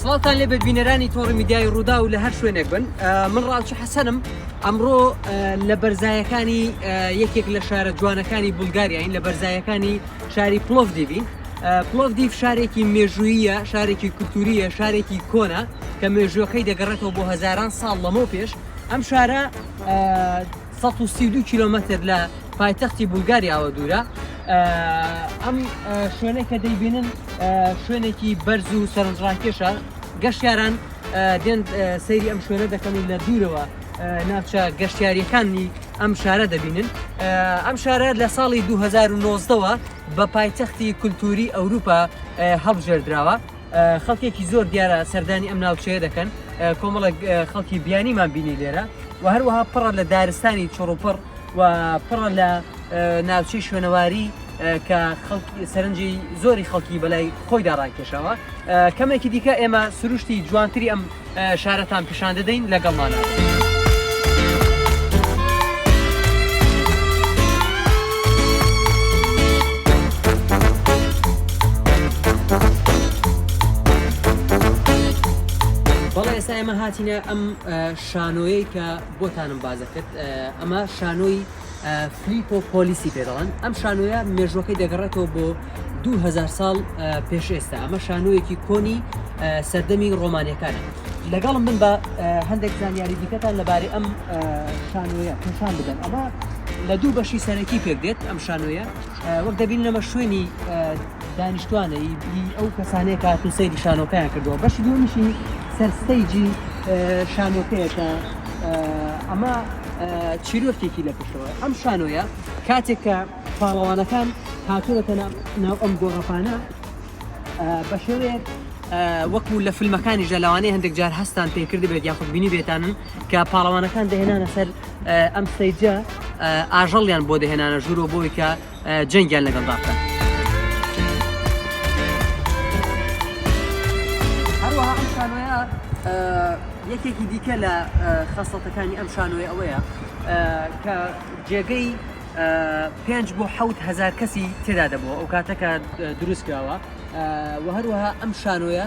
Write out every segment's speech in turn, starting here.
سڵاتان لێ ببینەرانی تۆڕی میدیای ڕوودا و لە هەر شوێنێک بن من ڕاوچە حەسەنم ئەمڕۆ لە بەرزایەکانی یەکێک لە شارە جوانەکانی بولگاریاین لە بەرزایەکانی شاری پلۆڤ دیبین پلۆڤ دیف شارێکی مێژوویە شارێکی کولتوریە شارێکی کۆنا کە مێژوەکەی دەگەڕێتەوە بۆ هزاران ساڵ لەمەو پێش ئەم شارە سەد و سی و دوو کیلۆمەتر لە پایتەختی بولگاریاوە دوورە ئەم شوێنە کە دەیبینن شوێنێکی بەرز و سەرنجڕاکێشە گەشتیاران دێن سەیری ئەم شوێنە دەکەن و لە دوورەوە ناوچە گەشتیاریەکانی ئەم شارە دەبینن ئەم شارە لە ساڵی 2009ەوە بە پایتەختی کولتوری ئەوروپا هەڵبژێردراوە خەڵکێکی زۆر دیارە سەردانی ئەم ناوچەیە دەکەن کۆمەڵێک خەڵکی بیانیمان بینی لێرە و هەروەها پڕە لە دارستانی چڕوپڕ و پڕە لە ناوچەی شوێنەواری کە سەرنجی زۆری خەڵکی بەلای خۆی داڕاکێشەوە کەمێکی دیکە ئێمە سروشتی جوانتری ئەم شارەتان پیشان دەدەین لەگەڵمانە. بەڵێ ئێستا ئێمە هاتینە ئەم شانۆیەی کە بۆتانم بازەکرد ئەمە شانۆی فلیپۆ پۆلیسی پێ دەڵێن ئەم شانۆیە مێژوەکەی دەگەڕێتەوە بۆ دوهزار ساڵ پێش ئێستا ئەمە شانۆیەکی کۆنی سەردەمی ڕۆمانەکانە لەگەڵم من بە هەندێک زانیاری دیکەتان لەبارەی ئەم شانۆیە پێشان بدەن ئەمە لە دوو بەشی سەرەکی پێک دێت ئەم شانۆیە وەک دەبین لەمە شوێنی دانیشتوانەیی ئەو کەسانەیە کە هاتوون سەیری شانۆکەیان کردووە بەشی دووەمیشی سەر ستەیجی شانۆکەیە کە ئەمە چیرۆکێکی لە پشتەوە ئەم شانۆیە کاتێک کە پاڵەوانەکان هاتوونەتە ناو ئەم گۆڕەپانە بە شێوەیەک وەکو لە فیلمەکانی ژەلاوانەی هەندێک جار هەستان پێکرد بێت یاخود بینی بێتانن کە پاڵەوانەکان دەهێنانە سەر ئەم سەیجە ئاژەڵیان بۆ دەهێنانە ژوورۆ بۆی کە جەنگیان لەگەڵدا بکات. هەروەها ئەم شانۆیە یەکێکی دیکە لە خەسڵەتەکانی ئەم شانۆی ئەوەیە کە جێگەی پێنج بۆ حوت هزار کەسی تێدا دەبەوە ئەو کاتەکە دروستکراوە و هەروەها ئەم شانۆیە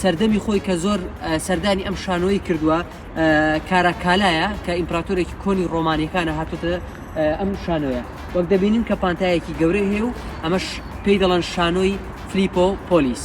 سەردەمی خۆی کە زۆر سەردانی ئەم شانۆی کردووە کاراکالایە کە ئیمپراتۆرێکی کۆنی ڕۆمانیەکانە هاتوتە ئەم شانۆیە وەک دەبینین کە پانتایەکی گەورە هەیە و ئەمەش پێی دەڵەن شانۆی فلیپۆ پۆلیس.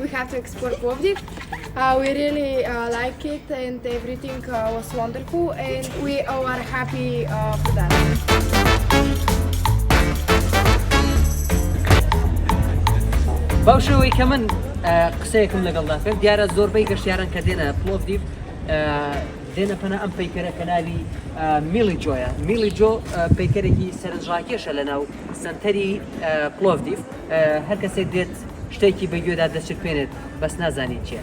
We have to explore Plovdiv. Uh, we really uh, like it and everything uh, was wonderful and we all are happy uh, for that. بەو شێوەی کە من قسەیەکم لەگەڵدا کرد دیارە زۆربەی گەشتیاران کە دێنە پلۆڤدیف دێنە پەنا ئەم پەیکەرە کەناوی میلی جۆیە میلی جۆ پەیکەرێکی سەرنجڕاکێشە لە ناو سنتەری پلۆڤدیف هەر کەسێک دێت شتێکی بە گوێدا دەچرپێنێت بەس نازانی چیە.